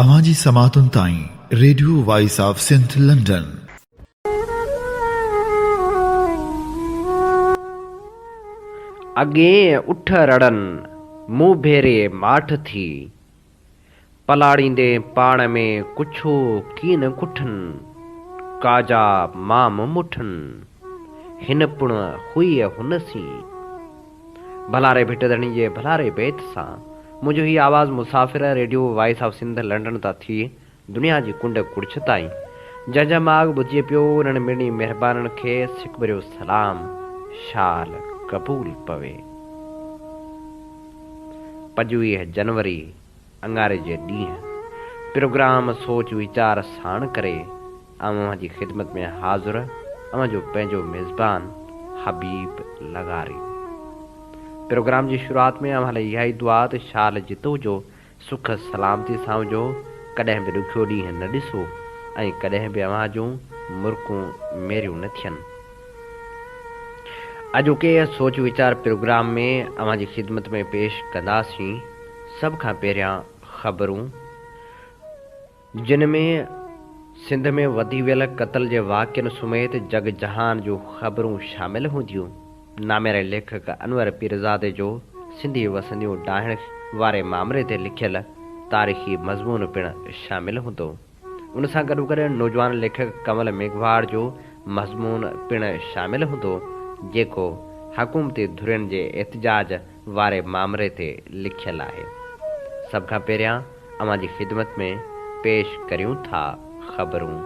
اوهان جي سماعتن تائين Radio Voice of Sindh London. اڳين اٺ رڙن مون ڀيري ماٺ ٿي. پلاڙيندين پاڻ ۾ ڪڇو ڪين ڪٺن، ڪاجا مام مٺن، هن پڻ هئي هن سين. ڀلا ري ڀٽ ڌڻي جي ڀلا ري بيت سان منهنجو هي آواز مسافر Radio Voice of Sindh London تان ٿي دنيا جي ڪنڊ ڪڙڇ تائين جنهن جا ماڳ ٻڌجي پيو انهن مڙني مهربانن کي سڪڀريو سلام شال قبول پوي پنجويهه جنوري اڱاري جي ڏينهن پروگرام سوچ ويچار ساڻ ڪري آئون اوهان جي خدمت ۾ حاضر اوهان جو پنهنجو ميزبان حبيب لغاري پروگرام جي شروعات ۾ اوهان لاء اها ئي دعا ته شال جتو جو سک سلامتي سان هجو ڪڏهن به ڏکيو ڏينهن نه ڏسو ۽ ڪڏهن به اوهان جون مرڪون ميريون نه ٿين. اڄوڪي سوچ ويچار پروگرام ۾ اوهان جي خدمت ۾ پيش ڪنداسين سڀ کان پهريان خبرون جن ۾ سنڌ ۾ وڌي ويل قتل جي واقعن سميت جڳ جهان جون خبرون شامل هونديون نامياري ليکڪ انور پيرزادي جو سنڌي وسنديون ڊاهڻ واري مامري تي لکيل تاريخي مضمون پڻ شامل هوندو. ان سان گڏوگڏ نوجوان ليکڪ ڪنول ميگهواڙ جو مضمون پڻ شامل هوندو، جيڪو حڪومتي ڌرين جي احتجاج واري مامري تي لکيل آهي. سڀ کان پهريان اوهان جي خدمت ۾ پيش ڪريون ٿا خبرون.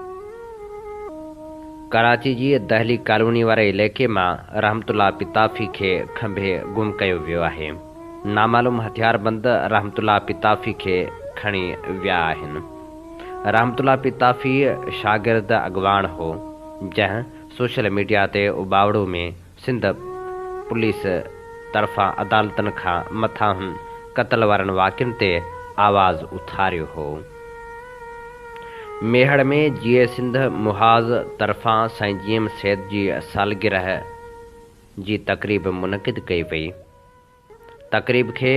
ڪراچي جي دهلي ڪالوني واري عليقي مان رحمت الله پتافي کي کنڀي گم ڪيو ويو آهي. نامعلوم هٿياربند رحمت الله پتافي کي کڻي ويا آهن. رحمت الله پتافي شاگرد اڳواڻ هو، جنهن سوشل ميڊيا تي اٻاوڙو ۾ سنڌ پوليس طرفان عدالتن کان مٿانهن قتل وارن واقعن تي آواز اٿاريو هو. ميهڙ ۾ جيئي سنڌ محاذ طرفان سائين جي ايم سيد جي سالگرهه جي تقريب منعقد ڪئي وئي. تقريب کي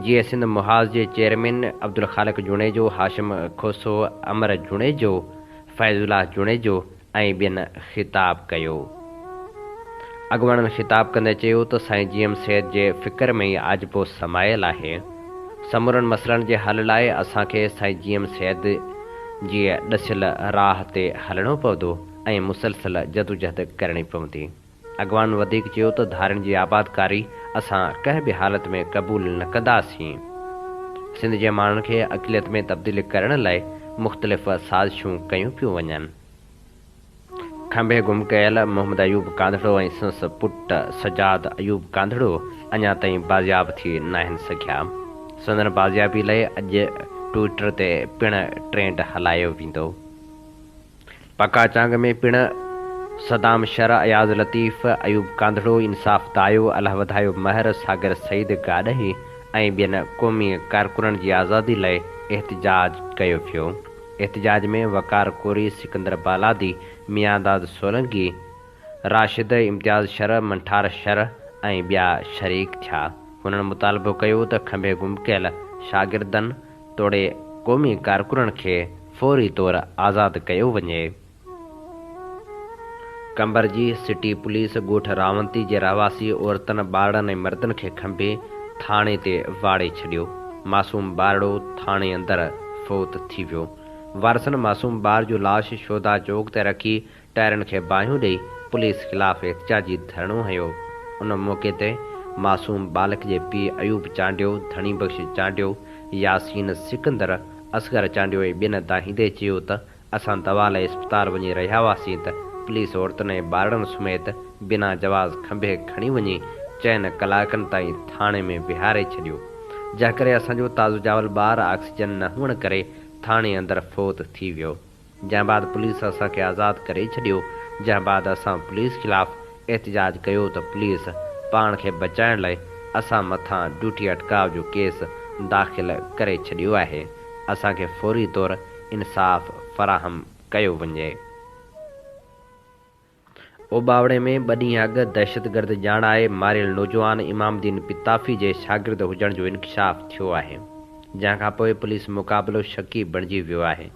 جي اي سنڌ محاذ جي چيئرمين عبدالخالق جوڻيجو، هاشم کوسو، امر جوڻيجو، فيض الله جوڻيجو ۽ ٻين خطاب ڪيو. اڳواڻن خطاب ڪندي چيو ته سائين جي ايم سيد جي فڪر ۾ ئي آجپو سمايل آهي. سمورن مسئلن جي حل لاء اسان کي سائين جي ايم سيد جي ڏسيل راهه تي هلڻو پوندو ۽ مسلسل جدوجهد ڪرڻي پوندي. اڳواڻن وڌيڪ چيو ته ڌارين جي آبادڪاري اسان ڪنهن به حالت ۾ قبول نه ڪنداسين، سنڌ جي ماڻهن کي اقليت ۾ تبديل ڪرڻ لاء مختلف سازشون ڪيون پيون وڃن. کنڀي گم ڪيل محمد ايوب ڪانڌڙو ۽ سنس پٽ سجاد ايوب ڪانڌڙو اڃا تائين بازياب ٿي ناهن سگهيا، سندن بازيابي لاء اڄ ٽوئيٽر تي پڻ ٽرينڊ هلايو ويندو. پکا چانگ ۾ پڻ صدام شرع، اياز لطيف، ايوب ڪانڌڙو، انصاف دايو، الله وڌايو مهر، صاغر سعيد گاڏهي ۽ ٻين قومي ڪارڪنن جي آزادي لاء احتجاج ڪيو ويو. احتجاج ۾ وقار ڪوري، سڪندر بالادي، ميانداد سولنگي، راشد، امتياز شرع، منٺار شرع ۽ ٻيا شريڪ ٿيا. هنن مطالبو ڪيو ته کنڀي گم ڪيل شاگردن، توڙي قومي ڪارڪنن کي فوري طور آزاد ڪيو وڃي. قمبر جي سٽي پوليس ڳوٺ راونتي جي رهواسي عورتن ٻارڙن ۽ مردن کي کنڀي ٿاڻي تي واڙي ڇڏيو، معصوم ٻارڙو ٿاڻي اندر فوت ٿي ويو، وارثن معصوم ٻار جو لاش شهدا چوڪ تي رکي ٽائرن کي باهيون ڏئي پوليس خلاف احتجاجي ڌرڻو هنيو، ان موقعي تي معصوم ٻالڪ جي پيء ايوب چانڊيو، ڌڻي بخش چانڊيو، ياسين سڪندر، اصغر چانڊيو ۽ ٻين دانهيندي چيو ته اسان دوا لاء اسپتال وڃي رهيا هئاسين ته پوليس عورتن ۽ ٻارڙن سميت بنا جواز کنڀي کڻي وڃي چئن ڪلاڪن تائين ٿاڻي ۾ ويهاري ڇڏيو جنهن ڪري اسان جو تازو ڄاول ٻار آڪسيجن نه هئڻ ڪري ٿاڻي اندر فوت ٿي ويو. جنهن بعد پوليس اسان کي آزاد ڪري ڇڏيو، جنهن بعد اسان پوليس خلاف احتجاج ڪيو ته پوليس پاڻ کي بچائڻ لاء اسان مٿان ڊيوٽي اٽڪاء جو ڪيس داخل ڪري ڇڏيو آهي، اسان کي فوري طور انصاف فراهم ڪيو وڃي. اوٻاوڙي ۾ ٻه ڏينهن اڳ دهشتگرد ڄاڻائي ماريل نوجوان امام دين پتافي جي شاگرد هجڻ جو انڪشاف ٿيو آهي، جنهن کانپوء پوليس مقابلو شڪي بڻجي ويو آهي.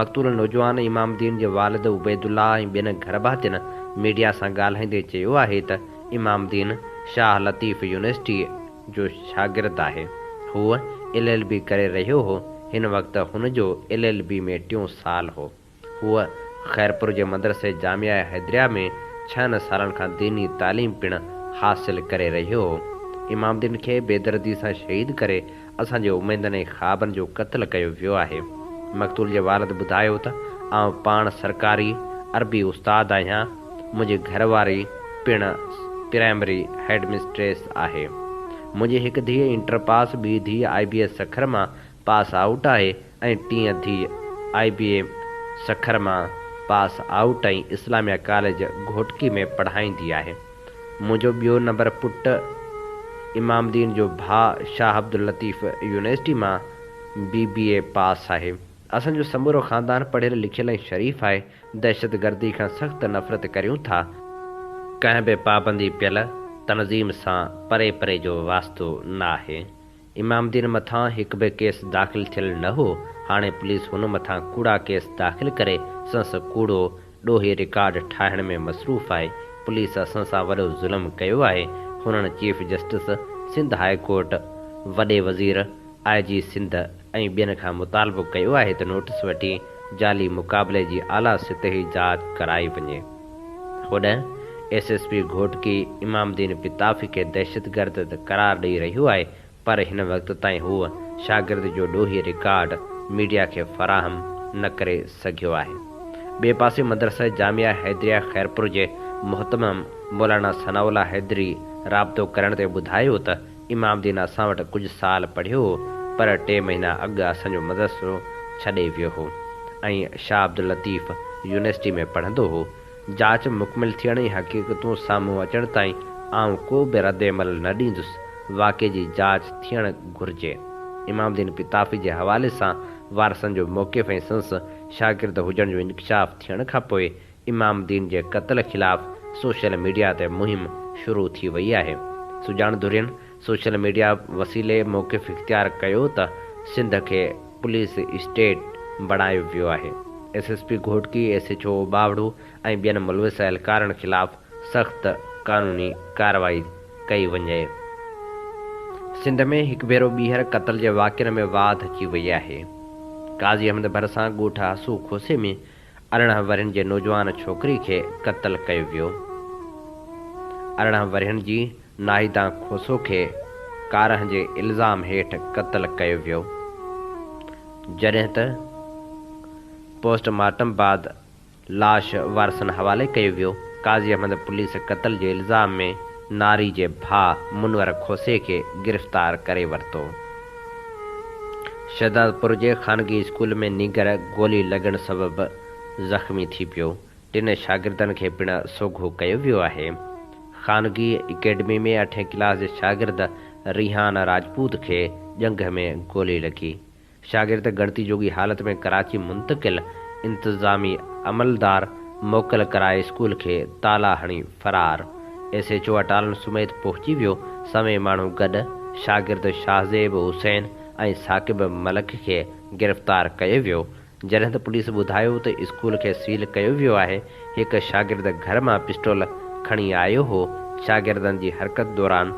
مقتول نوجوان امام دين جي والد عبيدالله ۽ ٻين گهرڀاتين ميڊيا سان ڳالهائيندي چيو آهي ته امام دين شاهه لطيف يونيورسٽيء جو شاگرد آهي، هو ايل ايل بي ڪري رهيو هو، هن وقت هن جو ايل ايل بي ۾ ٽيون سال هو. هوء خيرپور جي مدرسي جامعه حيدريه ۾ ڇهن سالن کان ديني تعليم پڻ حاصل ڪري رهي هو. امام الدين کي بيدردي سان شهيد ڪري اسان جي اميدن ۽ خوابن جو قتل ڪيو ويو آهي. مقتول جي والد ٻڌايو ته آئون پاڻ سرڪاري عربي استاد آهيان، منهنجي گهر واري پڻ پرائمري هيڊ مسٽريس آهي. منهنجي هڪ ڌيء انٽر پاس، ٻي ڌيء آء بي ايس سکر مان پاس آئوٽ آهي، ۽ ٽين ڌيء آء بي اي سکر مان pass out ۽ Islamia college Ghotki ۾ پڙهائيندي آهي. منهنجو ٻيو نمبر پٽ امام الدين جو ڀاء شاهه عبداللطيف يونيورسٽي مان بي بي اي پاس آهي. اسان جو سمورو خاندان پڙهيل لکيل ۽ شريف آهي. دهشتگردي کان سخت نفرت ڪريون ٿا. ڪنهن به پابندي پيل تنظيم سان پري پري جو واسطو ناهي. امام الدين مٿان هڪ به ڪيس داخل ٿيل نه هو، هاڻي پوليس هن مٿان ڪوڙا ڪيس داخل ڪري سنس ڪوڙو ڏوهي رڪارڊ ٺاهڻ ۾ مصروف آهي، پوليس اسان سان وڏو ظلم ڪيو آهي، هنن chief justice Sindh high court, وڏي وزير، آء جي سنڌ ۽ ٻين کان مطالبو ڪيو آهي ته نوٽيس وٺي جعلي مقابلي جي اعليٰ سطحي جاچ ڪرائي وڃي. هوڏانهن S S P Ghotki Imamuddin Patafi کي دهشتگرد ته قرار ڏئي رهيو آهي پر هن وقت تائين هو شاگرد جو ڏوهي رڪارڊ ميڊيا کي فراهم نه ڪري سگهيو آهي. ٻئي پاسي مدرسه جامعه حيدريه خيرپور جي مهتمم مولانا ثناء الله حيدري رابطو ڪرڻ تي ٻڌايو ته امام الدين اسان وٽ ڪجهه سال پڙهيو هو، پر ٽي مهينا اڳ اسان جو مدرسو ڇڏي ويو هو ۽ شاهه عبداللطيف يونيورسٽي ۾ پڙهندو هو. جاچ مڪمل ٿيڻ ۽ حقيقتون سامهون اچڻ تائين آئون ڪو به ردعمل نه ڏيندس. واقعي جي جاچ ٿيڻ گهرجي. امام الدين قطافي جي حوالي سان وارثن جو موقف ۽ سنس شاگرد هجڻ جو انڪشاف ٿيڻ کان پوء امام الدين جي قتل خلاف سوشل ميڊيا تي مهم شروع ٿي وئي آهي، سڄاڻ ڌرين سوشل ميڊيا وسيلي موقف اختيار ڪيو ته سنڌ کي پوليس اسٽيٽ بڻايو ويو آهي، S S P Ghotki, S H O Bawaro ۽ ٻين ملوث اهلڪارن خلاف سخت قانوني ڪارروائي ڪئي وڃي، سنڌ ۾ هڪ ڀيرو ٻيهر قتل جي واقعن ۾ واڌ اچي وئي آهي، قاضي احمد ڀرسان ڳوٺ هاسو کوسي ۾ ارڙهن ورهين جي نوجوان ڇوڪري کي قتل ڪيو ويو. ارڙهن ورهين جي ناهيدا کوسو کي ڪارهن جي الزام هيٺ قتل ڪيو ويو. جڏهن ته پوسٽ مارٽم بعد لاش وارثن حوالي ڪيو ويو. قاضي احمد پوليس قتل جي الزام ۾ ناري جي ڀاء منور کوسي کي گرفتار ڪري ورتو. شهدادپور جي خانگي اسڪول ۾ نينگر گولي لڳڻ سبب زخمي ٿي پيو، ٽن شاگردن کي پڻ سوگهو ڪيو ويو آهي. خانگي اڪيڊمي ۾ اٺين ڪلاس جي شاگرد ريحان راجپوت کي ڄنگهه ۾ گولي لڳي، شاگرد ڳڻتي جوڳي حالت ۾ ڪراچي منتقل، انتظامي عملدار موڪل ڪرائي اسڪول کي تالا هڻي فرار ايس ايڇ او اٽالن سميت پهچي ويو، سوين ماڻهو گڏ شاگرد شاهزيب حسين ۽ ثاقب ملڪ کي گرفتار ڪيو ويو، جڏهن ته پوليس ٻڌايو ته اسڪول کي سيل ڪيو ويو آهي، هڪ شاگرد گهر مان پسٽول کڻي آيو هو، شاگردن جي حرڪت دوران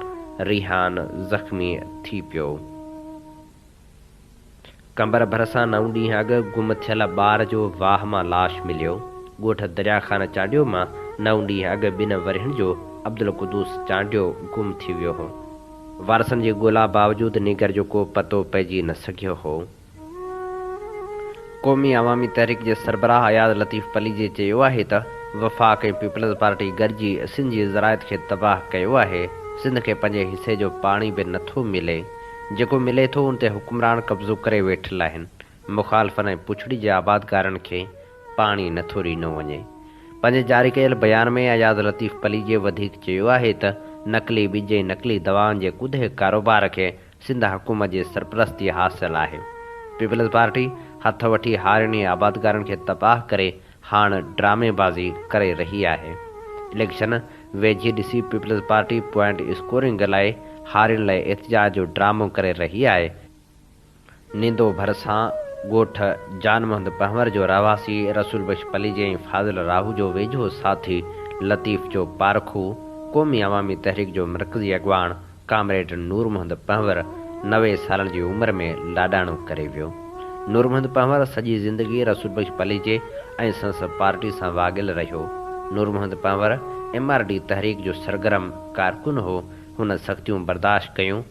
ريحان زخمي ٿي پيو. قمبر ڀرسان نو ڏينهن اڳ گم ٿيل ٻار جو واهه مان لاش مليو، ڳوٺ دريا خان چانڊيو مان نو ڏينهن اڳ ٻن ورهين جو عبدالقدوس چانڊيو گم ٿي ويو هو، وارثن جي ڳولا باوجود نينگر جو ڪو پتو پئجي نه سگهيو هو، قومي عوامي تحريڪ جي سربراهه اياز لطيف پليجي چيو آهي ته وفاق ۽ پيپلز پارٽي گڏجي سنڌ جي زراعت کي تباهه ڪيو آهي، سنڌ کي پنهنجي حصي جو پاڻي به نٿو ملي. جيڪو ملي ٿو ان تي حڪمران قبضو ڪري ويٺل آهن، مخالفن ۽ پڇڙي جي آبادگارن کي پاڻي نه ٿو ڏنو وڃي. پنهنجي جاري ڪيل بيان ۾ اياز لطيف پليجي وڌيڪ چيو آهي ته نقلي ٻج ۽ نقلي دوائن جي ڪڌي ڪاروبار کي سنڌ حڪومت جي سرپرستي حاصل آهي، پيپلز پارٽي هٿ وٺي هارين ۽ آبادگارن کي تباهه ڪري هاڻ ڊرامي بازي ڪري رهي آهي، اليڪشن ويجهي ڏسي پيپلز پارٽي پوائنٽ اسڪورنگ لاء هارين لاء احتجاج جو ڊرامو ڪري رهي آهي، نيندو ڀرسان ڳوٺ جان محمد پنهور جو رهواسي رسول بخش پليجي ۽ فاضل راهو جو ويجهو ساٿي لطيف جو پارکو قومي عوامي تحريڪ جو مرڪزي اڳواڻ ڪامريڊ نورمحمد پنهور نوي سالن جي عمر ۾ لاڏاڻو ڪري ويو. نورمحمد پنهور سڄي زندگي رسول بخش پليجي ۽ سندس پارٽي سان واڳيل رهيو. Noor Muhammad Panhwar M R D تحريڪ جو سرگرم ڪارڪن هو. هن سختيون برداشت ڪيون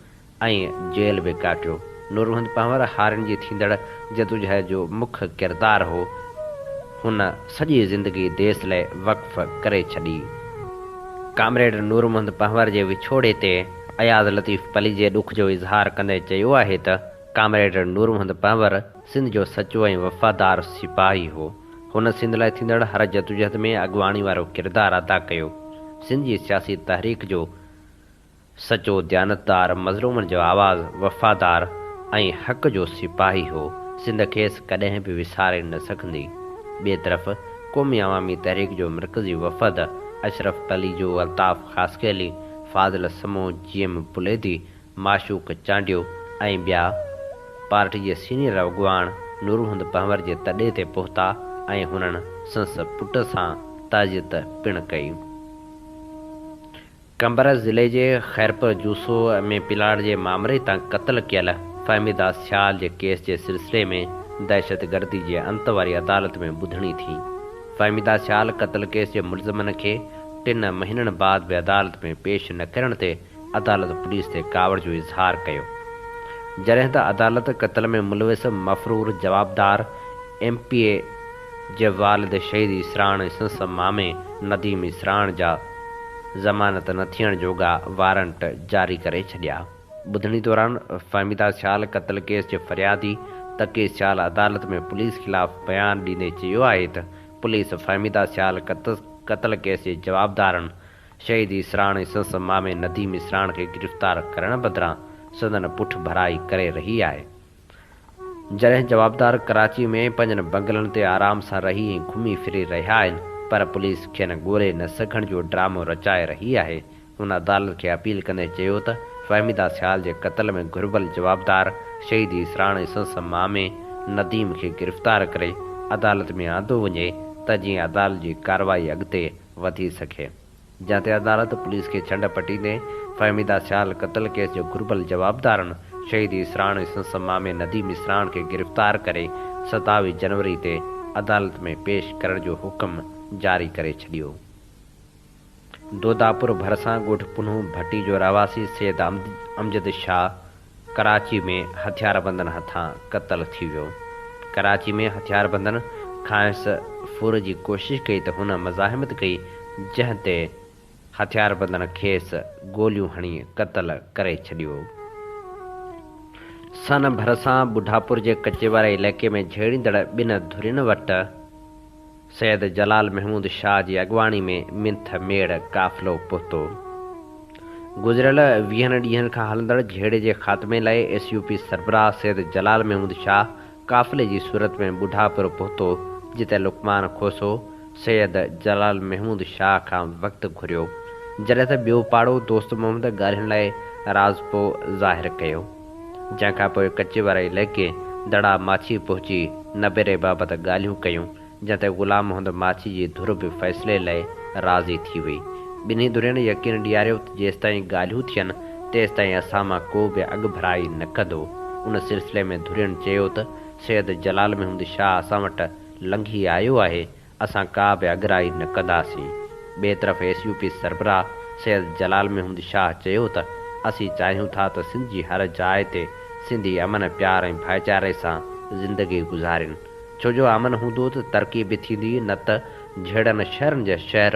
۽ جيل به ڪاٽيو. نورمحمد پنهور هارين جي ٿيندڙ جدوجهد جو مک ڪردار هو. هن سڄي زندگي ديس لئه وقف ڪري ڇڏي. ڪامريڊ نور محمد پنهور جي وڇوڙي تي اياز لطيف پليجي ڏک جو اظهار ڪندي چيو آهي ته ڪامريڊ نور محمد پنهور سنڌ جو سچو ۽ وفادار سپاهي هو. هن سنڌ لاء ٿيندڙ هر جدوجهد ۾ اڳواڻي وارو ڪردار ادا ڪيو. سنڌ جي سياسي تحريڪ جو سچو ديانتدار مظلومن جو آواز، وفادار ۽ حق جو سپاهي هو، سنڌ کيس ڪڏهن به وساري نه سگهندي. ٻئي طرف قومي عوامي تحريڪ جو مرڪزي وفد، اشرف پليجو، الطاف خاصخيلي، فاضل سمون، جي ايم پليدي، معشوق چانڊيو ۽ ٻيا، پارٽي جي سينيئر اڳواڻ نورمحمد پنهور جي تڏي تي پهتا ۽ هنن سنس پٽ سان تعزيت پڻ ڪئي. قمبرس ضلعي جي خيرپور جوسو ۾ پلاٽ جي مامري تان قتل ڪيل فهمي داس ڇال جي ڪيس جي سلسلي ۾ دهشتگردي جي انت واري عدالت ۾ ٻڌڻي ٿي. فهمي داس ڇال قتل ڪيس جي ملزمن کي ٽن مهينن بعد به عدالت ۾ پيش نه ڪرڻ تي عدالت پوليس تي ڪاوڙ جو اظهار ڪيو. جڏهن ته عدالت قتل ۾ ملوث مفرور جوابدار ايم پي اي، جي والد شهيد اسراڻ ۽ سنس مامي نديم اسراڻ جا ضمانت نه ٿيڻ جوڳا وارنٽ جاري ڪري ڇڏيا. ٻڌڻي دوران فهميده سيال قتل ڪيس جي فريادي تقي سيال عدالت ۾ پوليس خلاف بيان ڏيندي چيو آهي ته پوليس فهميده سيال قتل ڪيس جي جوابدارن شهيد اسراڻ ۽ سنس مامي نديم اسراڻ کي گرفتار ڪرڻ بدران سندن پٺڀرائي ڪري رهي آهي. جڏهن جوابدار ڪراچي ۾ پنهنجن بنگلن تي آرام سان رهي ۽ گهمي ڦري رهيا آهن پر پوليس کين ڳولي نه سگهڻ جو ڊرامو رچائي رهي آهي، هن عدالت کي اپيل ڪندي چيو ته فهميده سيال جي قتل ۾ گهربل جوابدار شهيد اسراڻ ۽ سندس مامي نديم کي گرفتار ڪري عدالت ۾ آندو وڃي ته جيئن عدالت جي ڪارروائي اڳتي وڌي سگهي. جنهن تي عدالت پوليس کي ڇنڊ پٽي ڏئي فهميده سيال قتل ڪيس جو گهربل جوابدارن شهيد اسراڻ ۽ سندس مامي نديم اسراڻ کي گرفتار ڪري ستاويهه جنوري تي عدالت ۾ پيش ڪرڻ جو حڪم جاري ڪري ڇڏيو. دوداپور ڀرسان ڳوٺ پنهون ڀٽي جو رهواسي سيد امجد شاهه، ڪراچي ۾ هٿياربندن هٿان قتل ٿي ويو. ڪراچي ۾ هٿياربندن کانئس ڦر جي ڪوشش ڪئي ته هن مزاحمت ڪئي جنهن تي هٿياربندن کيس گوليون هڻي قتل ڪري ڇڏيو. سن ڀرسان ٻڍاپور جي ڪچي واري علائقي ۾ جهيڙيندڙ ٻن ڌرين وٽ. سيد جلال محمود شاهه جي اڳواڻي ۾ منٿ ميڙ قافلو پهتو. گذريل ويهن ڏينهن کان هلندڙ جهيڙي جي خاتمي لاء ايس يو پي سربراهه سيد جلال محمود شاهه قافلي جي صورت ۾ ٻڍاپرو پهتو جتي لقمان کوسو سيد جلال محمود شاهه کان وقت گهريو جڏهن ته ٻيو پاڙو دوست محمد ڳالهين لاء راضپو ظاهر ڪيو. جنهن کان پوء ڪچي واري علائقي دڙا ماڇي پهچي نبيري بابت ڳالهيون ڪيون، جنهن تي غلام محمد ماڇي جي ڌر به فيصلي لئه راضي ٿي وئي. ٻنهي ڌرين يقين ڏياريو ته جيستائين ڳالهيون ٿين، تيستائين اسان مان ڪو به اڳڀرائي نه ڪندو. ان سلسلي ۾ ڌرين چيو ته سيد جلال محمود شاهه اسان وٽ لنگهي آيو آهي، اسان ڪا به اڳرائي نه ڪنداسين. ٻئي طرف ايس يو پي سربراهه سيد جلال محمد شاهه چيو ته اسين چاهيون ٿا ته سنڌ جي هر جاء تي سنڌي امن، پيار ۽ ڀائيچاري سان زندگي گذارين ڇو جو امن هوندو ته ترقي به ٿيندي نه ته جهيڙن شهرن جا شهر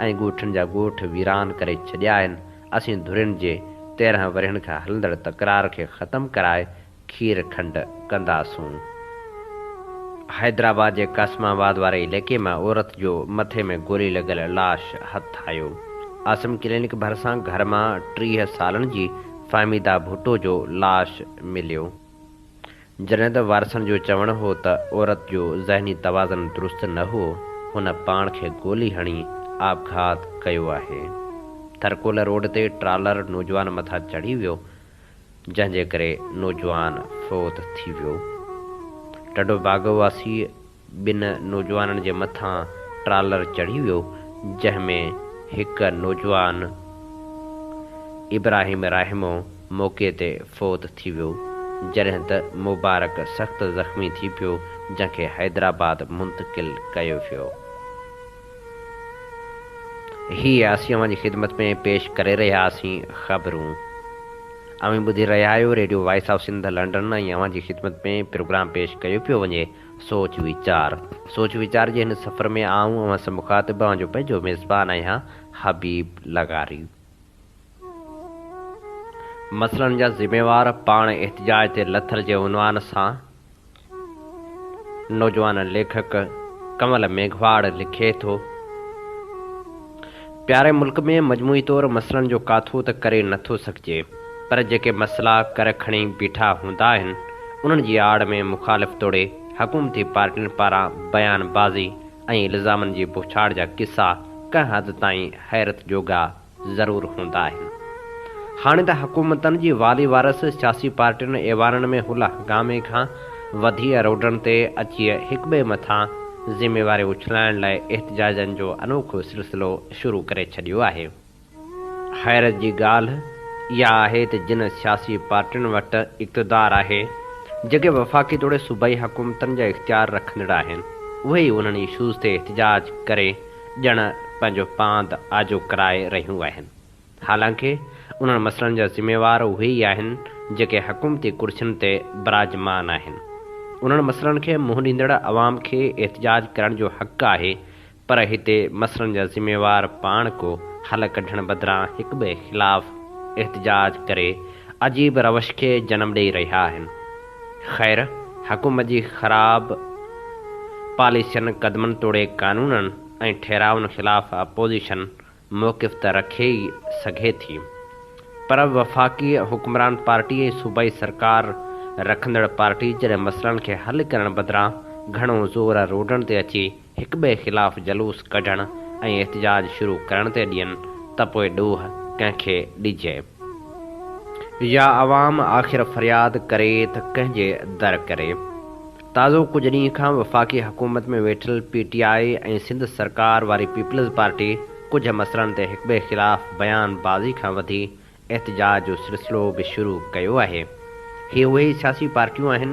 ۽ ڳوٺن جا ڳوٺ ويران ڪري ڇڏيا آهن، اسين ڌرين جي تيرهن ورهين کان هلندڙ تڪرار کي ختم ڪرائي کير کنڊ ڪنداسون. حيدرآباد جي قاسم آباد واري عليقي مان عورت جو مٿي ۾ گولي لڳل لاش هٿ آيو. عاصم ڪلينڪ ڀرسان گهر مان ٽيهه سالن جي فهميده ڀٽو جو لاش مليو. جڏهن ته وارثن جو چوڻ هو ته عورت جو ذهني توازن درست نه هو، هن پاڻ کي گولي هڻي آپگهات ڪيو آهي. ٿرڪول روڊ تي ٽرالر نوجوان مٿان چڙهي ويو، جنهن جي ڪري نوجوان فوت ٿي ويو. ٽنڊوباگو واسي ٻن نوجوانن جي مٿان ٽرالر چڙهي ويو جنهن ۾ هڪ نوجوان ابراهيم راهمو موقعي تي فوت ٿي ويو جڏهن ته مبارڪ سخت زخمي ٿي پيو جنهن کي حيدرآباد منتقل ڪيو ويو. هي اسين اوهان جي خدمت ۾ پيش ڪري رهيا آهسين خبرون اوهين ٻڌي رهيا آهيو Radio Voice of Sindh London ۽ اوهان جي خدمت ۾ پروگرام پيش ڪيو پيو وڃي سوچ ويچار سوچ ويچار جي هن سفر ۾ آئون اوهان سان مخاطب اوهان جو پنهنجو ميزبان آهيان حبيب لغاري. مسئلن جا ذميوار پاڻ احتجاج تي لٿل جي عنوان سان نوجوان ليکڪ ڪنول ميگهواڙ لکي ٿو، پياري ملڪ ۾ مجموعي طور مسئلن جو ڪاٿو ته ڪري نه ٿو سگهجي، پر جيڪي مسئلا ڪر کڻي بيٺا هوندا آهن، انهن جي آڙ ۾ مخالف توڙي حڪومتي پارٽين پاران بيان بازي ۽ الزامن جي بوڇاڙ جا قصا ڪنهن حد تائين حيرت جوڳا ضرور هوندا آهن. هاڻي ته حڪومتن جي والي وارث سياسي پارٽين ايوانن ۾ هلهه هنگامي کان وڌي روڊن تي اچي هڪٻئي مٿان ذميواريون اڇلائڻ لاء احتجاجن جو انوکو سلسلو شروع ڪري ڇڏيو آهي. حيرت جي ڳالهه اها آهي ته جن سياسي پارٽين وٽ اقتدار آهي، جيڪي وفاقي توڙي صوبائي حڪومتن جا اختيار رکندڙ آهن، اهي ئي انهن اشوز تي احتجاج ڪري ڄڻ پنهنجو پاند آجو ڪرائي رهيون آهن، حالانڪ انهن مسئلن جا ذميوار اهي ئي آهن، جيڪي حڪومتي ڪرسين تي براجمان آهن. انهن مسئلن کي منهن ڏيندڙ عوام کي احتجاج ڪرڻ جو حق آهي، پر هتي مسئلن جا ذميوار پاڻ ڪو حل ڪڍڻ بدران هڪٻئي خلاف احتجاج ڪري عجيب روش کي جنم ڏئي رهيا آهن. خير، حڪومت جي خراب پاليسين، قدمن توڙي قانونن ۽ ٺهرائن خلاف اپوزيشن موقف ته رکي ئي سگهي ٿي، پر وفاقي حڪمران پارٽي ۽ صوبائي سرڪار رکندڙ پارٽي جڏهن مسئلن کي حل ڪرڻ بدران گهڻو زور روڊن تي اچي هڪٻئي خلاف جلوس ڪڍڻ ۽ احتجاج شروع ڪرڻ تي ڏين ته پوء ڏوهه ڪنهن کي ڏجي يا عوام آخر فرياد ڪري ته ڪنهن جي در ڪري. تازو ڪجهه ڏينهن کان وفاقي حڪومت ۾ ويٺل پي ٽي آء ۽ سنڌ سرڪار واري پيپلز پارٽي ڪجهه مسئلن تي هڪٻئي خلاف بيان بازي کان وڌي احتجاج جو سلسلو به شروع ڪيو آهي. هي اهي ئي سياسي پارٽيون آهن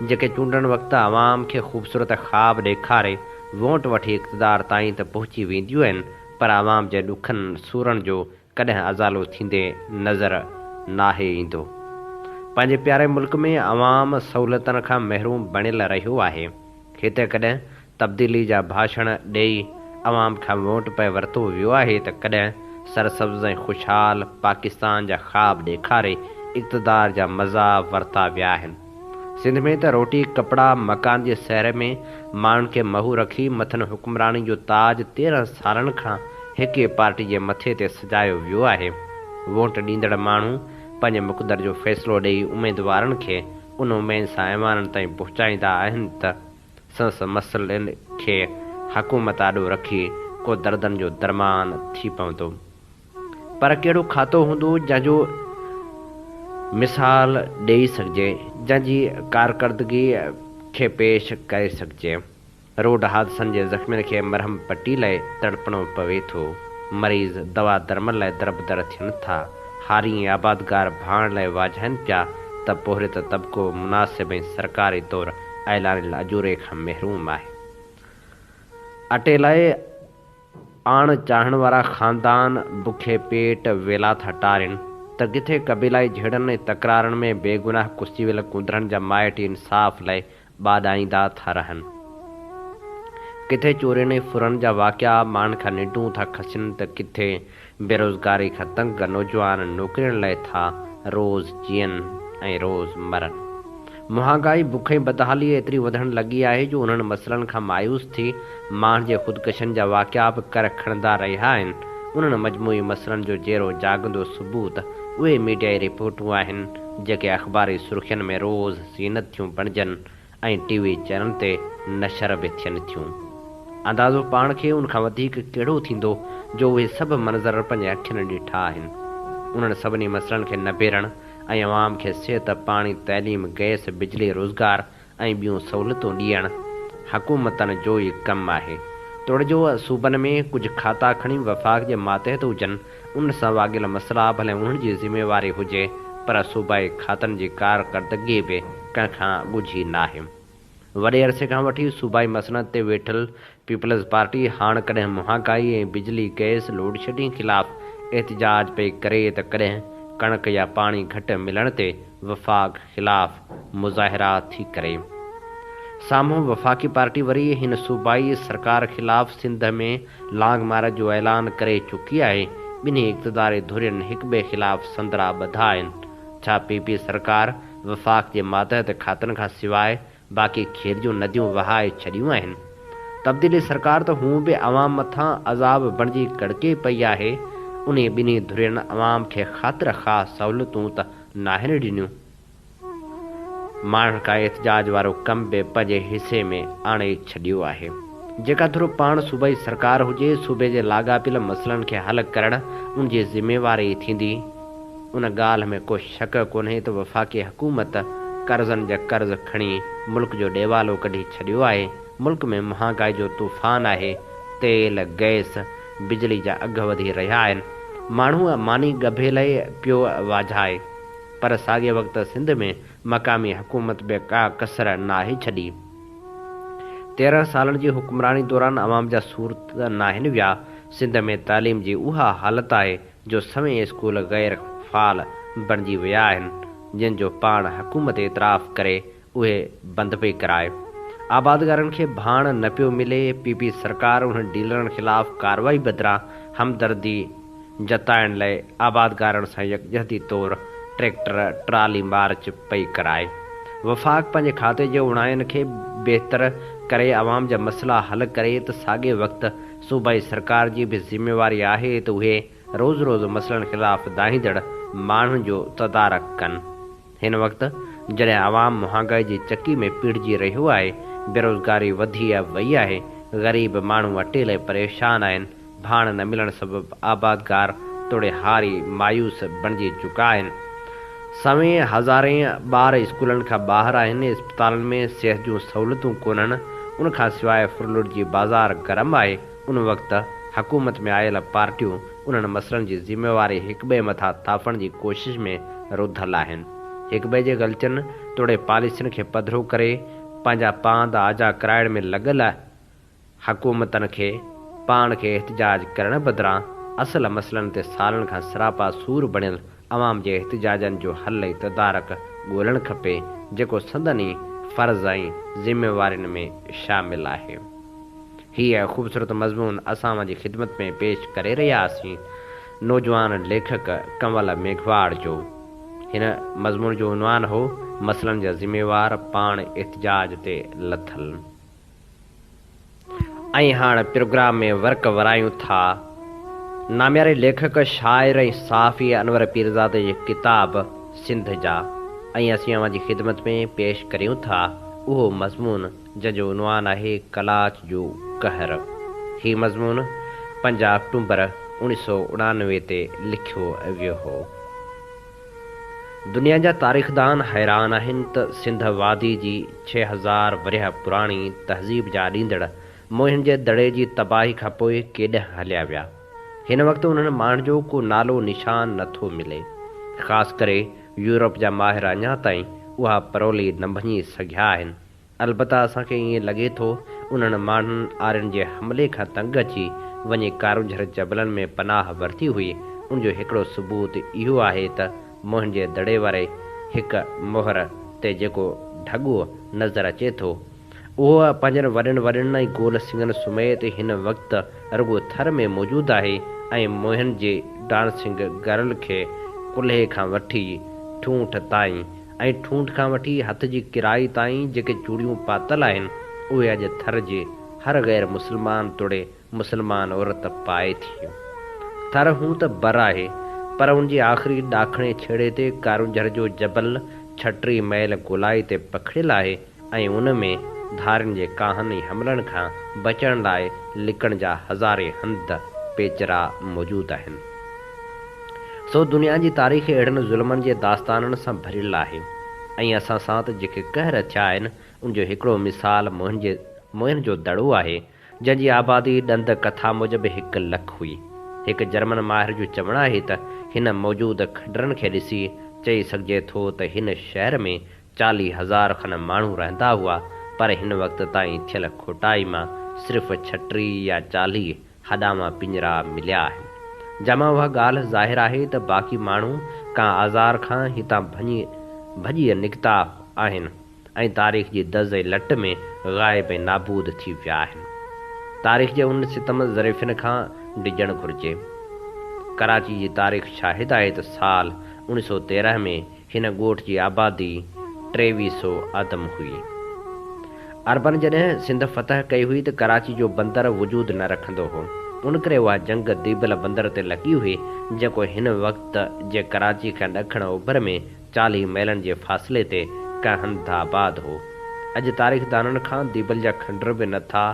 جيڪي چونڊن وقت عوام کي خوبصورت خواب ڏيکاري ووٽ وٺي اقتدار تائين ته پهچي وينديون آهن پر عوام جي ڏکن سورن جو ڪڏهن ازالو ٿيندي نظر ناهي ايندو. پنهنجي پياري ملڪ ۾ عوام سهولتن کان محروم بڻيل رهيو آهي. هتي ڪڏهن تبديلي جا ڀاشڻ ڏئي عوام کان ووٽ پئي ورتو ويو آهي ته ڪڏهن سرسبز ۽ خوشحال پاڪستان جا خواب ڏيکاري اقتدار جا مزا ورتا ويا آهن. سنڌ ۾ ته روٽي، ڪپڙا، مڪان جي سهر ۾ ماڻهن کي مهو رکي مٿن حڪمراني جو تاج تيرهن سالن کان هڪ ئي پارٽي جي مٿي تي سجايو ويو آهي. ووٽ ڏيندڙ ماڻهو پنهنجي مقدر جو فيصلو ڏئي اميدوارن کي ان اميد سان ايوانن تائين پهچائيندا آهن ته، سنس مسئلن کي حڪومت آڏو رکي ڪو دردن جو درمان ٿي پوندو. پر ڪهڙو کاتو هوندو جنهن جو مثال ڏيئي سگهجي، جنهن جي ڪارڪردگي کي پيش ڪري سگهجي. روڊ حادثن جي زخمين کي مرهم پٽي لاء تڙپڻو پوي ٿو، مريض دوا درمل لاء دربدر ٿين ٿا، هاري ۽ آبادگار ڀاڻ لاء واجهائين پيا ته پورهيت طبقو مناسب ۽ سرڪاري طور ايلاري لاجوري کان محروم آهي. اٽي لاء آڻ چاهڻ وارا خاندان بکي پيٽ ويلا ٿا ٽارين ته ڪٿي قبيلائي جهيڙن ۽ تڪرارن ۾ بيگناهه ڪسي ويل ڪونڌرن جا مائٽ انصاف لاء ٻاڏائيندا ٿا رهن. ڪٿي چورين ۽ ڦرن جا واقعا مان کان ننڊون ٿا کسين ته ڪٿي بيروزگاري کان تنگ نوجوان نوڪرين لئه ٿا روز جيئن ۽ روز مرن. مهانگائي، بک ۽ بدحالي ايتري وڌڻ لڳي آهي جو انهن مسئلن کان مايوس ٿي ماڻهن جي خودڪشين جا واقعا به ڪر کڻندا رهيا آهن. انهن مجموعي مسئلن جو جيرو جاڳندو ثبوت اهي ميڊيائي رپورٽون آهن جيڪي اخباري سرخين ۾ روز زينت ٿيون بڻجن ۽ ٽي وي چئنلن تي نشر به ٿين ٿيون. اندازو پاڻ کي ان کان وڌيڪ ڪهڙو ٿيندو جو اهي سڀ منظر پنهنجي اکين ڏٺا آهن. انهن سڀني مسئلن کي نبيرڻ ۽ عوام کي صحت، پاڻي، تعليم، گئس، بجلي، روزگار ۽ ٻيون سهولتون ڏيڻ حڪومتن جو ئي ڪم آهي. توڙي جو صوبن ۾ ڪجهه کاتا کڻي وفاق جي ماتحت هجن، ان سان واڳيل مسئلا ڀلي انهن جي ذميواري هجي پر صوبائي کاتن جي ڪارڪردگي به ڪنهن کان ڳجهي ناهي. وڏي عرصي کان وٺي صوبائي مسئلن تي ويٺل پيپلز پارٽي هاڻ ڪڏهن مهانگائي ۽ بجلي گئس لوڊشيڊنگ خلاف احتجاج پئي ڪري ته ڪڏهن ڪڻڪ يا پاڻي گهٽ ملڻ تي وفاق خلاف مظاهرا ٿي ڪري. سامهون وفاقي پارٽي وري هن صوبائي سرڪار خلاف سنڌ ۾ لانگ مارچ جو اعلان ڪري چڪي آهي. ٻنهي اقتداري ڌرين هڪٻئي خلاف سندرا ٻڌا آهن. ڇا پي پي سرڪار وفاق جي ماتحت کاتن کان سواء باقي کير جون نديون وهائي ڇڏيون آهن. تبديلي سرڪار ته هونء به عوام مٿان عذاب بڻجي ڪڙڪي پئي آهي، انهي ٻنهي ڌرين عوام کي خاطر خواهه سهولتون ته ناهن ڏنيون. ماڻهن ڪا احتجاج وارو ڪم به پنهنجي حصي ۾ آڻي ڇڏيو آهي. جيڪا ڌر پاڻ صوبائي سرڪار هجي، صوبي جي لاڳاپيل مسئلن کي حل ڪرڻ ان جي ذميواري ٿيندي. ان ڳالهه ۾ ڪو شڪ ڪونهي ته وفاقي حڪومت قرضن جا قرض کڻي ملڪ جو ڏيوالو ڪڍي ڇڏيو آهي، ملڪ ۾ مهانگائي جو طوفان آهي، تيل، گئس، بجلي جا اگهه وڌي رهيا آهن، ماڻهو ماني ڳڀي لئي پيو واجهائي پر ساڳئي وقت سنڌ ۾ مقامي حڪومت به ڪا ڪسر ناهي ڇڏي، تيرنهن سالن جي حڪمراني دوران عوام جا سور ته ناهن ويا، سنڌ ۾ تعليم جي اها حالت آهي جو سوين اسڪول غير فعال بڻجي ويا آهن جن جو پاڻ حڪومت اعتراف ڪري اهي بند پئي ڪرائي آبادگارن کي ڀاڻ نه پيو ملي پي پي سرڪار انهن ڊيلرن خلاف ڪارروائي بدران همدردي جتائڻ لئي آبادگارن سان يڪجهتي طور ٽريڪٽر ٽرالي مارچ پئي ڪرائي وفاق پنهنجي کاتي جي اوڻاين کي بهتر ڪري عوام جا مسئلا حل ڪري ته ساڳي وقت صوبائي سرڪار جي به ذميواري آهي ته اهي روز روز مسئلن خلاف دانهيندڙ ماڻهن جو تدارڪ ڪن. هن وقت جڏهن عوام مهانگائي جي چڪي ۾ پيڙهجي رهيو آهي، بيروزگاري وڌي وئي آهي، غريب ماڻهو اٽيل ۽ پريشان آهن، ڀاڻ نه ملڻ سبب آبادگار توڙي هاري مايوس بڻجي چڪا آهن، سوين هزارين ٻار اسڪولن کان ٻاهر آهن، اسپتالن ۾ صحت جون سهولتون ڪونهن، ان کان سواء ڦرلٽ جي بازار گرم آهي، ان وقت حڪومت ۾ آيل پارٽيون انهن مسئلن جي ذميواري هڪٻئي مٿان ٿاڦڻ جي ڪوشش ۾ رڌل آهن، هڪٻئي جي غلطين توڙي پاليسين کي پڌرو ڪري پنهنجا پاند آجا ڪرائڻ ۾ لڳل حڪومتن کي پاڻ کي احتجاج ڪرڻ بدران اصل مسئلن تي سالن کان سراپا سور بڻيل عوام جي احتجاجن جو حل ۽ تدارڪ ڳولڻ کپي جيڪو سندن ئي فرض ۽ ذميوارين ۾ شامل آهي. هيء خوبصورت مضمون اسان اوهان جي خدمت ۾ پيش ڪري رهياسين نوجوان ليکڪ ڪنول ميگهواڙ جو. هن مضمون جو عنوان هو مسئلن جا ذميوار پاڻ احتجاج تي لٿل. ۽ هاڻ پروگرام ۾ ورق ورايون ٿا. نامياري ليکڪ، شاعر ۽ صحافي انور پيرزادي جي ڪتاب سنڌ جا ۽ اسين اوهان جي خدمت ۾ پيش ڪريون ٿا اهو مضمون جنهن جو عنوان آهي قلاچ جو قهر. هي مضمون پنج آڪٽومبر اوڻيهه سؤ اڻانوي تي لکيو ويو هو. دنيا جا تاريخدان حيران آهن ته سنڌ وادي جي ڇهه هزار ورهيه پراڻي تهذيب جا اڏيندڙ موهن جي دڙي جي تباهي کان پوء ڪيڏانهن هليا ويا. هن وقت انهن ماڻهن جو ڪو نالو نشان نه ٿو ملي. خاص ڪري يورپ جا ماهر اڃا تائين اها پرولي نه ڀڃي سگهيا آهن. البته اسان کي ائين لڳي ٿو انهن ماڻهن آرين جي حملي کان تنگ اچي وڃي ڪارونجهر جبلن ۾ پناهه ورتي هئي، ان جو هڪڙو ثبوت اهو آهي ته موهن جي دڙي واري هڪ مهر تي جيڪو ڍڳو نظر اچي ٿو اهو پنهنجن وڏين وڏين ۽ گول سڱن سميت هن وقت رڳو ٿر ۾ موجود آهي ۽ موهن جي ڊانسنگ گرل کي ڪلهي کان وٺي ٺونٺ تائين ۽ ٺونٺ کان وٺي هٿ جي ڪرائي تائين جيڪي چوڙيون پاتل آهن، اهي اڄ ٿر جي هر غير مسلمان توڙي مسلمان عورت پائي ٿي. ٿر هونء ته بر آهي، پر ان جي آخري ڏاکڻي ڇيڙي تي ڪارونجهر جو جبل ڇٽري مئل گولائي تي پکڙيل آهي، ۽ ان ۾ ڌارين جي ڪاهن ۽ حملن کان بچڻ لاء لڪڻ جا هزارين هنڌ، پيچرا، موجود آهن. سو دنيا جي تاريخ اهڙن ظلمن جي داستانن سان ڀريل آهي ۽ اسان ساٿ جيڪي قهر ٿيا آهن ان جو هڪڙو مثال موهن جي موهن جو دڙو آهي جنهن جي آبادي ڏند ڪٿا موجب هڪ لک هئي. هڪ جرمن ماهر جو چوڻ آهي ته هن موجود کنڊرن کي ڏسي چئي سگهجي ٿو ته هن شهر ۾ چاليهه هزار کن ماڻهو رهندا هئا پر هن وقت تائين ٿيل کوٽائي مان صرف ڇٽيهه يا چاليهه هڏاوان پڃرا مليا آهن جنهن مان اها ڳالهه ظاهر آهي ته باقي ماڻهو ڪا آزار کان هتان ڀڃي ڀڄي نڪتا آهن ۽ تاريخ جي دز ۽ لٽ ۾ غائب ۽ نابود ٿي ويا آهن تاريخ جي انهن ستم ظريفين کان ڊڄڻ گهرجي ڪراچي جي تاريخ شاهد آهي ته سال اوڻيهه سؤ تيرنهن ۾ هن ڳوٺ جي آبادي ٽيويهه سو آدم هئي. عربن جڏهن سنڌ فتح ڪئي هئي ته ڪراچي جو بندر وجود نه رکندو هو. ان ڪري اها جنگ ديبل بندر تي لڳي هئي، جيڪو هن وقت جي ڪراچي کان ڏکڻ اوڀر ۾ چاليهه ميلن جي فاصلي تي ڪهنڌآباد هو. اڄ تاريخدانن کان ديبل جا کنڊر به نه ٿا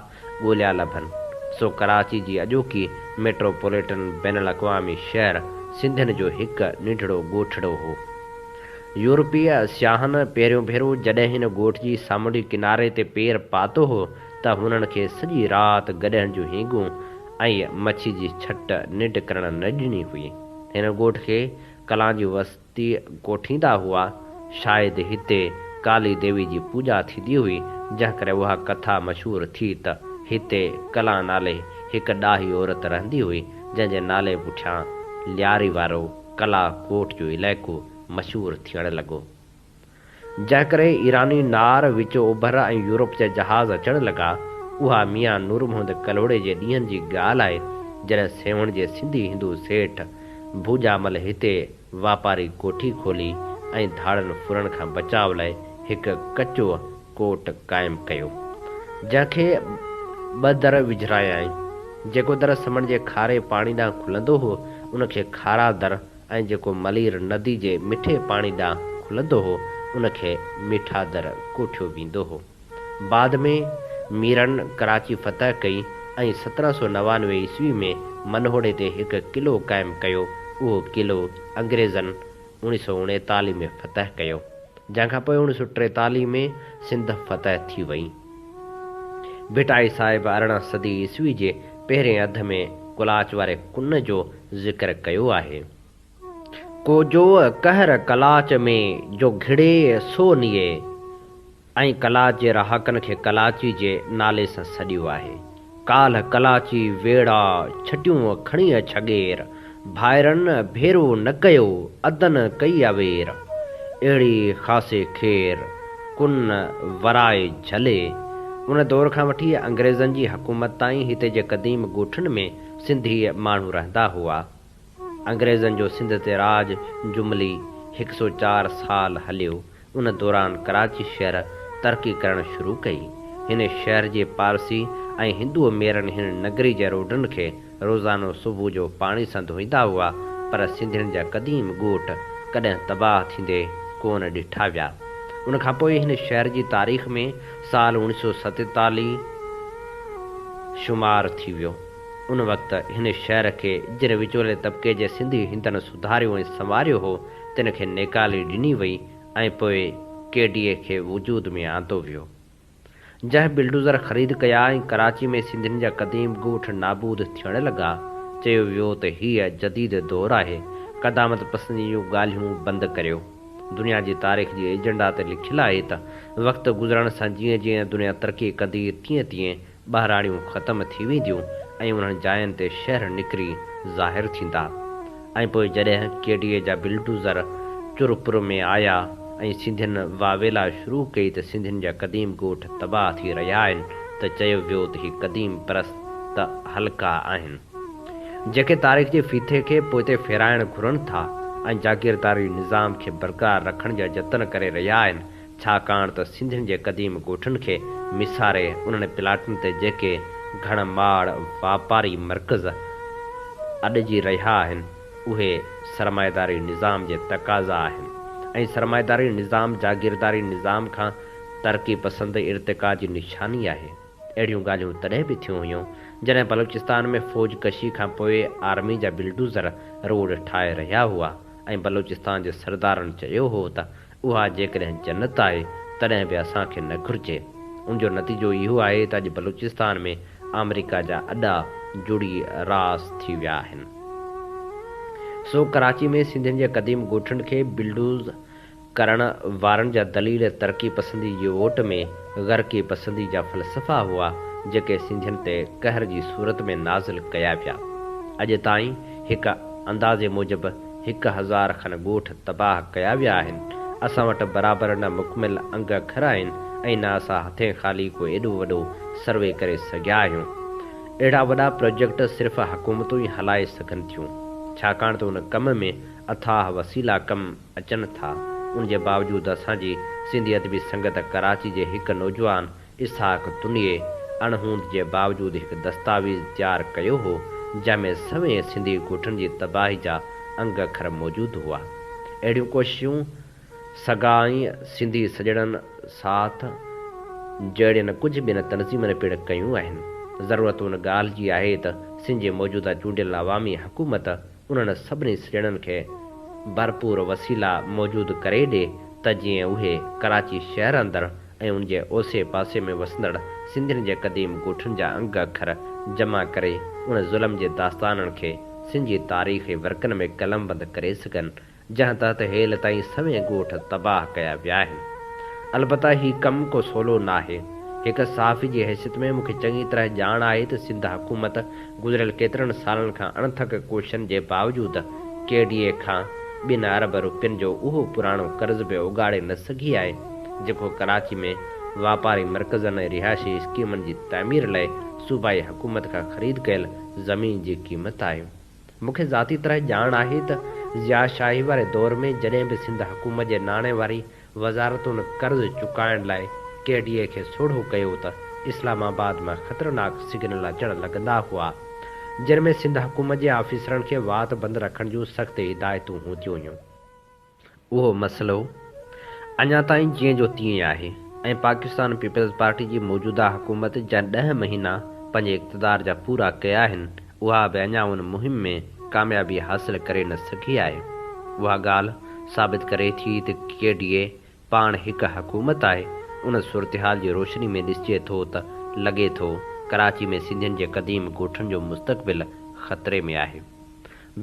ڳوليا لڀن، سو ڪراچي جي اڄوڪي ميٽروپوليٽن بين الاقوامي شهر سنڌين جو هڪ ننڍڙو ڳوٺڙو هو. يورپي سياحن پهريون ڀيرو جڏهن هن ڳوٺ جي سامونڊي ڪناري تي پير پاتو هو ته هنن کي سڄي رات گڏهن جون هينگون ۽ مڇي جي ڇٽ ننڊ ڪرڻ نه ڏني هئي. هن ڳوٺ کي ڪلان جي وس تي ڪوٺيندا هئا. شايد هتي ڪالي ديوي جي پوڄا ٿيندي هئي، جنهن ڪري اها ڪٿا مشهور ٿي ته هتي ڪلا نالي هڪ ڏاهي عورت رهندي هئي، جنهن جي نالي پٺيان لياري وارو ڪلا ڪوٽ جو علائقو مشهور ٿيڻ لڳو. جنهن ڪري ايراني نار، وچو اوڀر ۽ يورپ جا جهاز اچڻ لڳا. اها ميان نور محمد ڪلهوڙي جي ڏينهن جي ڳالهه آهي، جڏهن سيوهڻ جي سنڌي هندو سيٺ ڀوڄامل هتي واپاري ڪوٺي کولي ۽ ڌاڙن ڦرڻ کان بچاء لاء هڪ ڪچو ڪوٽ قائم ڪيو، جنهن کي ٻه در وجهرايائين. جيڪو در سمنڊ جي کاري پاڻي ڏانهن کلندو هو، ان کي کارا در، ۽ جيڪو ملير ندي جي مٺي پاڻي ڏانهن کلندو هو، ان کي ميٺادر ڪوٺيو ويندو هو. بعد ۾ ميرن ڪراچي فتح ڪئي ۽ سترهن سؤ نوانوي عيسوي ۾ منهوڙي تي هڪ قلعو قائم ڪيو، اهو قلعو انگريزن اوڻيهه سؤ اڻيتاليهه ۾ فتح ڪيو، جنهن کان پوء اوڻيهه سؤ ٽيتاليهه ۾ سنڌ فتح ٿي وئي. ڀٽائي صاحب ارڙهن صدي عيسوي جي پهرين اڌ ۾ ڪلاچ واري ڪن جو ذڪر ڪيو آهي. ڪوجوء قهر ڪلاچ ۾، جو گهڙي سو نيئي ۽ ڪلاچ جي رهاڪن کي ڪلاچي جي نالي سان سڏيو آهي. ڪالهه ڪلاچي ويڙا ڇٽيون کڻي ڇڳير، ڀائرن ڀيرو نه ڪيو ادن ڪئي اوير، اهڙي خاصي خير ڪن ورائي جهلي. ان دور کان وٺي انگريزن جي حڪومت تائين هتي جي قديم ڳوٺن ۾ سنڌي ماڻهو رهندا هئا. انگريزن جو سنڌ تي راڄ جملي هڪ سؤ چار سال هليو. ان دوران ڪراچي شهر ترقي ڪرڻ شروع ڪئي. هن شهر جي پارسي ۽ هندوء ميرن هن نگري جي روڊن کي روزانو صبح جو پاڻي سان ڌوئيندا هئا، پر سنڌين جا قديم ڳوٺ ڪڏهن تباهه ٿيندي ڪونه ڏٺا ويا. ان کان پوء هن شهر جي تاريخ ۾ سال اوڻيھ سؤ ستيتاليھ شمار ٿي ويو. ان وقت هن شهر کي جن وچولي طبقي جي سنڌي هندن سڌاريو ۽ سنواريو هو، تن کي نيڪالي ڏني وئي ۽ پوء ڪي ڊي اي کي وجود ۾ آندو ويو. جنهن بلڊوزر خريد ڪيا ۽ ڪراچي ۾ سنڌين جا قديم ڳوٺ نابود ٿيڻ لڳا، چيو ويو ته هيء جديد دور آهي، قدامت پسندي جون ڳالهيون بند ڪريو. دنيا جي تاريخ جي ايجنڊا تي لکيل آهي ته وقت گذرڻ سان جيئن جيئن دنيا ترقي ڪندي، تيئن تيئن ٻهراڙيون ختم ٿي وينديون ۽ انهن جاين تي شهر نڪري ظاهر ٿيندا ۽ پوء جڏهن ڪي ڊي اي جا بلڊوزر چرپر ۾ آيا ۽ سنڌين واويلا شروع ڪئي ته سنڌين جا قديم ڳوٺ تباهه ٿي رهيا آهن ته چيو ويو ته هي قديم پرست حلقا آهن جيڪي تاريخ جي ڦيٿي کي پوئتي ڦيرائڻ گهرن ٿا ۽ جاگيرداري نظام کي برقرار رکڻ جا جتن ڪري رهيا آهن ڇاڪاڻ ته سنڌين جي قديم ڳوٺن کي ميساري انهن پلاٽن تي جيڪي گهڻ ماڙ واپاري مرڪز اڏجي رهيا آهن اهي سرمائيداري نظام جي تقاضا آهن ۽ سرمائيداري نظام جاگيرداري نظام کان ترقي پسند ارتقا جي نشاني آهي. اهڙيون ڳالهيون تڏهن به ٿيون هيون جڏهن بلوچستان ۾ فوج ڪشي کان پوء آرمي جا بلڊوزر روڊ ٺاهي رهيا هئا ۽ بلوچستان جي سردارن چيو هو ته اها جيڪڏهن جنت آهي تڏهن به اسان کي نه گهرجي. ان جو نتيجو اهو آهي ته اڄ بلوچستان ۾ آمريڪا جا اڏا جڙي راس ٿي ويا آهن. سو ڪراچي ۾ سنڌين جي قديم ڳوٺن کي بلڊوز ڪرڻ وارن جا دليل ترقي پسندي جي اوٽ ۾ غرقي پسندي جا فلسفا هئا جيڪي سنڌين تي قهر جي صورت ۾ نازل ڪيا ويا. اڄ تائين هڪ اندازي موجب هڪ هزار کن ڳوٺ تباهه ڪيا ويا آهن. اسان وٽ برابر نه مڪمل انگ اکر آهن ۽ نه اسان هٿين خالي ڪو ايڏو وڏو سروي ڪري سگهيا آهيون. اهڙا وڏا پراجيڪٽ صرف حڪومتون ئي هلائي سگهن ٿيون. ڇاڪاڻ ته ان ڪم ۾ اٿاهه وسيلا ڪم اچن ٿا. ان جي باوجود اسان جي سنڌي ادبي سنگت ڪراچي جي هڪ نوجوان اسحاق تنڙيء اڻهوند جي باوجود هڪ دستاويز تيار ڪيو هو، جنهن ۾ سوين سنڌي ڳوٺن جي تباهي جا انگ اکر موجود هئا. اهڙيون ڪوششون سگا ۽ سنڌي سڄڻن ساٿ جهڙين ڪجهه ٻين تنظيمن پڻ ڪيون آهن. ضرورت ان ڳالهه جي آهي ته سنڌ جي موجوده چونڊيل عوامي حڪومت انهن سڀني سڄڻن کي ڀرپور وسيلا موجود ڪري ڏي ته جيئن اهي ڪراچي شهر اندر ۽ ان جي اوسي پاسي ۾ وسندڙ سنڌين جي قديم ڳوٺن جا انگ اکر جمع ڪري ان ظلم جي داستانن کي سنڌ جي تاريخي ورقن ۾ قلمبند ڪري سگهن جنهن تحت هيل تائين سوين ڳوٺ تباهه ڪيا ويا آهن. البته هي ڪم ڪو سولو ناهي. هڪ صحافي جي حيثيت ۾ مون کي چڱي طرح ڄاڻ آهي ته سنڌ حڪومت گذريل ڪيترن سالن کان اڻٿڪ ڪوششن جي باوجود ڪي ڊي اي کان ٻن ارب روپين جو اهو پراڻو قرض به اوڳاڙي نه سگهي آهي جيڪو ڪراچي ۾ واپاري مرڪزن ۽ رهائشي اسڪيمن جي تعمير لئه صوبائي حڪومت کان خريد ڪيل زمين جي قيمت آهي. مون کي ذاتي طرح ڄاڻ آهي ته ضياء شاهي واري دور ۾ جڏهن به سنڌ حڪومت جي ناڻي واري وزارتن قرض چڪائڻ لاء ڪي ڊي اي کي سوڙهو ڪيو ته اسلام آباد مان خطرناڪ سگنل اچڻ لڳندا هئا، جن ۾ سنڌ حڪومت جي آفيسرن کي وات بند رکڻ جون سخت هدايتون هونديون هيون. اهو مسئلو اڃا تائين جيئن جو تيئن آهي ۽ پاڪستان پيپلز پارٽي جي موجوده حڪومت جا ڏهه مهينا پنهنجي اقتدار جا پورا ڪيا آهن، اها به اڃا ان مهم ۾ ڪاميابي حاصل ڪري نه سگهي آهي. اها ڳالهه ثابت ڪري ٿي ته ڪي ڊي اي پاڻ هڪ حڪومت آهي. ان صورتحال جي روشني ۾ ڏسجي ٿو ته لڳي ٿو ڪراچي ۾ سنڌين جي قديم ڳوٺن جو مستقبل خطري ۾ آهي.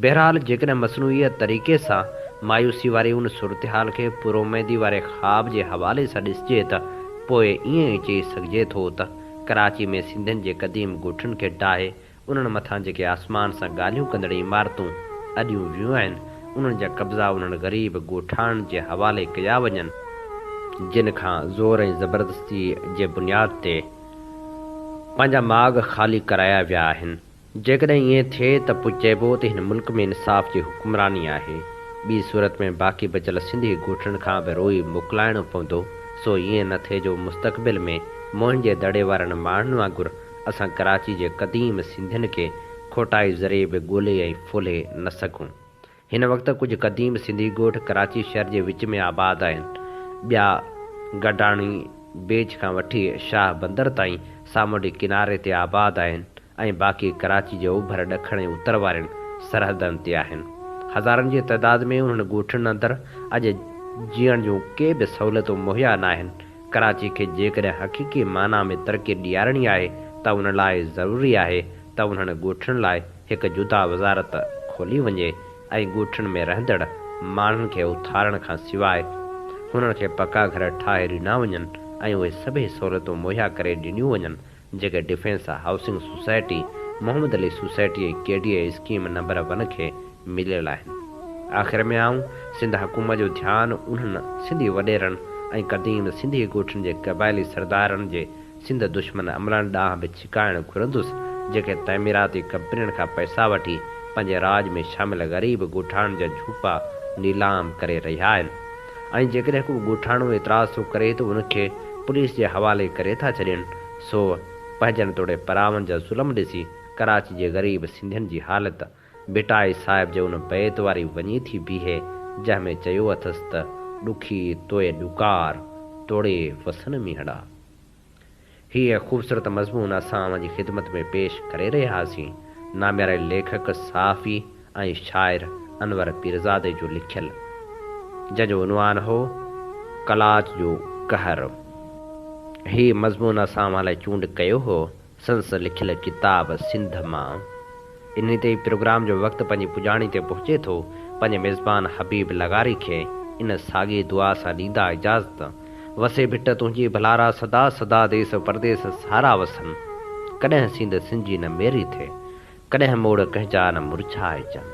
بهرحال جيڪڏهن مصنوعي طريقي سان مايوسي واري ان صورتحال کي پرااميدي واري خواب جي حوالي سان ڏسجي ته پوء ائين ئي چئي سگهجي ٿو ته ڪراچي ۾ سنڌين جي قديم ڳوٺن کي ڊاهي انهن مٿان جيڪي آسمان سان ڳالهيون ڪندڙ عمارتون اڏيون ويون آهن انهن جا قبضا انهن غريب ڳوٺاڻن جي حوالي ڪيا وڃن جن کان زور ۽ زبردستي جي بنياد تي پنهنجا ماڳ خالي ڪرايا ويا آهن. جيڪڏهن ائين ٿئي ته پوء چئبو ته هن ملڪ ۾ انصاف جي حڪمراني آهي، ٻي صورت ۾ باقي بچيل سنڌي ڳوٺڙن کان به روئي موڪلائڻو پوندو، سو ائين نه ٿئي جو مستقبل ۾ موهن جي دڙي وارن ماڻهن وانگر اسان ڪراچي جي قديم سنڌين کي کوٽائي ذريعي به ڳولي ۽ ڦولهي نه سگهون. هن وقت ڪجهه قديم سنڌي ڳوٺ ڪراچي شهر جي وچ ۾ آباد آهن. ٻيا گڊاڻي بيچ کان وٺي شاهه بندر تائين سامونڊي ڪناري تي آباد آهن ۽ باقي ڪراچي جي اوڀر، ڏکڻ ۽ اتر وارين سرحدن تي آهن. هزارن جي تعداد ۾ انهن ڳوٺن اندر اڄ جيئڻ جون ڪي به سهولتون مهيا ناهن. ڪراچي کي جيڪڏهن حقيقي معنيٰ ۾ ترقي ڏيارڻي آهي ته ان لاء ضروري آهي ته انهن ڳوٺن لاء هڪ جدا وزارت کولي وڃي ۽ ڳوٺن ۾ رهندڙ ماڻهن کي اٿارڻ کان سواء هنن کي پڪا گهر ٺاهي ڏنا وڃن ۽ اهي سڀئي سهولتون مهيا ڪري ڏنيون وڃن جيڪي defence housing society, Muhammad Ali society ۽ K D A scheme number one کي مليل آهن. آخر ۾ آئون سنڌ حڪومت جو ڌيان انهن سنڌي وڏيرن ۽ قديم سنڌي ڳوٺن جي قبائلي سردارن جي سنڌ دشمن عملن ڏانهن به ڇڪائڻ گهرندس، جيڪي تعميراتي ڪمپنين کان پئسا وٺي پنهنجي راڄ ۾ شامل غريب ڳوٺاڻن جا جهوپا نيلام ڪري رهيا آهن ۽ جيڪڏهن ڪو ڳوٺاڻو اعتراض ٿو ڪري ته ان کي پوليس جي حوالي ڪري ٿا ڇڏين، سو پنهنجن توڙي پراون جا ظلم ڏسي ڪراچي جي غريب سنڌين جي حالت ڀٽائي صاحب جي ان بيت واري وڃي ٿي بيهي، جنهن ۾ چيو اٿس ته، ڏکي توء ڏڪار، ٽوڙي وسن مينهڙا. هيء خوبصورت مضمون اسان اوهان جي خدمت ۾ پيش ڪري رهياسين. نامياري ليکڪ، صحافي ۽ شاعر انور پيرزادي جو لکيل، جنهن جو عنوان هو، قلاچ جو قهر. هيء مضمون اسان اوهان لاء چونڊ ڪيو هو، سندس لکيل ڪتاب سنڌ مان انهي تي ئي پروگرام جو وقت پنهنجي پڄاڻي تي پهچي ٿو، پنهنجي ميزبان حبيب لغاري کي ان ساڳي دعا سان ڏيندا اجازت، وسي ڀٽ تنهنجي ڀلارا سدا سدا ديس و پرديس سارا وسن، ڪڏهن سيند سنجي نه ميري ٿئي، ڪڏهن موڙ ڪنهن جا نه مرجهائجن.